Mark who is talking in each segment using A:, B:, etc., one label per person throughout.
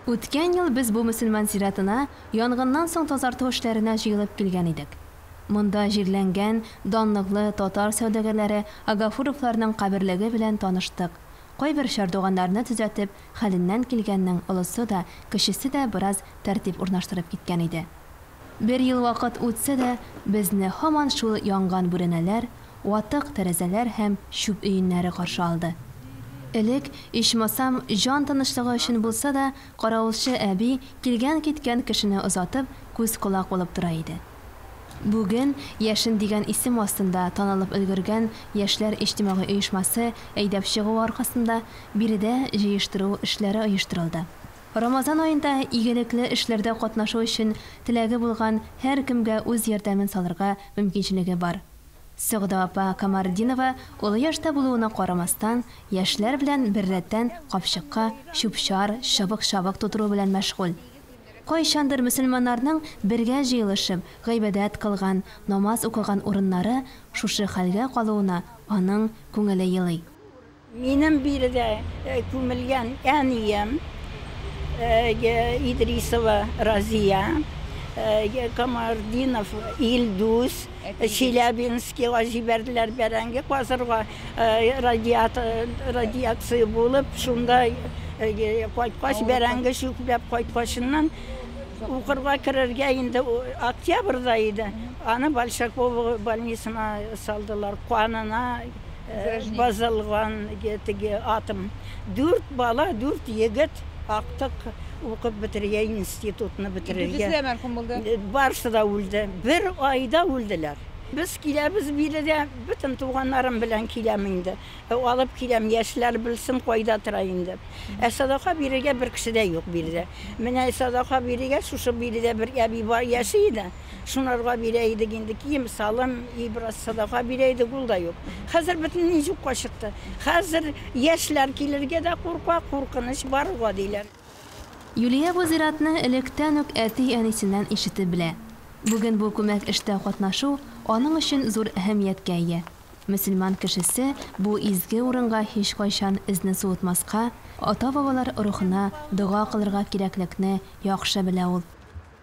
A: Үткән ел без бу мөселман зиратына янгыннан соң тазарту эшләренә җыелып килгән идек. Монда җирләнгән данлыклы татар сәүдәгәрләре Агафуровларның каберлеге белән таныштык, кайбер чардуганнарны төзәтеп, хәленнән килгәннең олысы да, кечесе дә бераз тәртип урнаштырып киткән иде. Бер ел вакыт үтсә дә, безне һаман шул янган бүрәнәләр, ватык тәрәзәләр һәм чүп өеннәре каршы алды. Элек, ичмасам, җан тынычлыгы өчен булса да, каравылчы әби, килгән-киткән кешене озатып, күз-колак булып тора иде. Бүген Яшен дигән исем астында танылып өлгергән яшьләр иҗтимагый оешмасы әйдәп чыгуы аркасында биредә җыештыру эшләре оештырылды. Рамазан аенда игелекле эшләрдә катнашу өчен теләге булган һәркемгә үз ярдәмен салырга мөмкинчелеге бар. Сәгъдә апа Камартдинова олы яшьтә булуына карамастан, яшьләр белән беррәттән капчыкка чүп-чар, чыбык-чабык тутыру белән мәшгуль. Кайчандыр мөселманнарның бергә җыелышып, гыйбадәт кылган, намаз укыган урыннары шушы хәлгә калуына аның күңеле елый. Минем биредә күмелгән әнием, Идрисова Разия, Камардинов Илдус, Челябинскига җибәрделәр бәрәңге казырга, радиация булып, шунда кайткач, бәрәңге чүпләп кайткачыннан, укырга керергә инде октябрьдә иде, аны Большаково больницына салдылар, канына Бозылган теге атым. Дүрт бала, дүрт егет актык укып бетерергә, институтны бетерергә. Дүртесе дә мәрхүм булды. Барысы да үлде. Бер айда үлделәр. Без киләбез бире дә, бөтен туганнарым белән киләм инде. Алып киләм, яшьләр белсен, кайда тора инде. Ә садака бирергә бер кеше дә юк биредә. Менә садака бирергә шушы биредә бер әби бар, яши иде. Шунарга бирә идек инде, кием-салым, и бераз садака бирә идек, ул да юк. Хәзер бөтенләй юкка чыкты. Хәзер яшьләр килергә дә курка, куркыныч баруга, диләр. Юлия бу зиратны электән үк әти-әнисеннән ишетеп белә. Бүген бу күмәк эштә катнашу аның өчен зур әһәмияткә ия. Мөселман кешесе бу изге урынга һичкайчан эзне суытмаска, ата-бабалар рухына дога кылырга кирәклекне яхшы белә ул.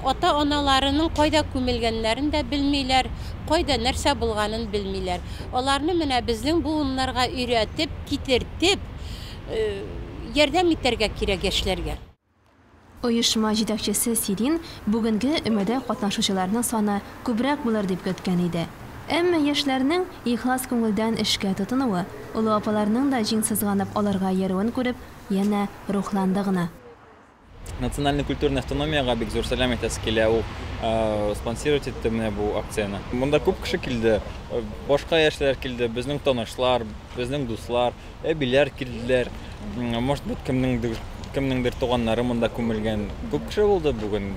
A: Ата-аналарының кайда күмелгәннәрен дә белмиләр, кайда нәрсә булганын белмиләр. Аларны менә безнең буыннарга өйрәтеп, китертеп, ярдәм итәргә кирәк яшьләргә. Оешма җитәкчесе Сирин бүгенге өмәдә катнашучыларның саны күбрәк булыр дип көткән иде. Әмма яшьләрнең ихлас күңелдән эшкә тотынуы, олы апаларның да җиң сызганып аларга иярүен күреп, янә рухланды гына. Национальный культурный автономиягә бик зур сәлам әйтәсе килә. Ул э, спонсировать итте менә бу акцияне. Монда күп кеше килде. Э, башка яшьләр килде, безнең танышлар, безнең дуслар, әбиләр килделәр. Может быть, кемнеңдер кемнеңдер туганнары монда күмелгән. Күп кеше булды бүген.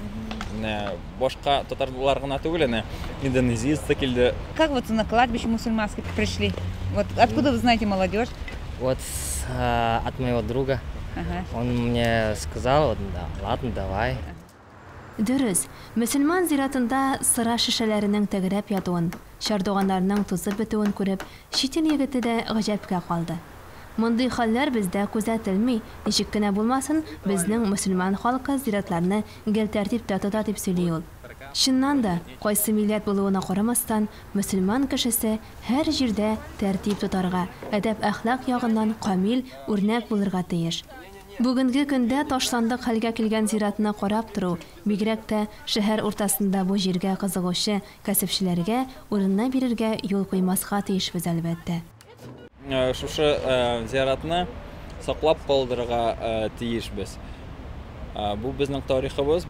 A: Менә Башка татарлар гына түгел әнә, индонезиец та килде. Как вот на кладбище мусульманский пришли? Вот откуда вы знаете молодежь? Вот а, от моего друга. Ага. Он мне сказал, вот, да, ладно, давай. Дөрес, мөселман зиратында сыра шешәләренең тәгәрәп ятуын, чардуганнарның тузып бетүен күреп, чит ил егете дә гаҗәпкә калды. Мондый хәлләр бездә күзәтелми, ничек кенә булмасын, безнең мөселман халкы зиратларны гел тәртиптә тота, дип сөйли ул. Чыннан да, кайсы милләт булуына карамастан, мөселман кешесе һәр җирдә тәртип тотарга, әдәп-әхлак ягыннан камил үрнәк булырга тиеш. Бүгенге көндә ташландык хәлгә килгән зиратны карап тору, бигрәк тә шәһәр уртасында бу җиргә кызыгучы кәсепчеләргә, урынына бирергә юл куймаска тиешбез, әлбәттә. Э, шушы э, зияратны саклап калдырырга э, тиешбез бу безнең тарихыбыз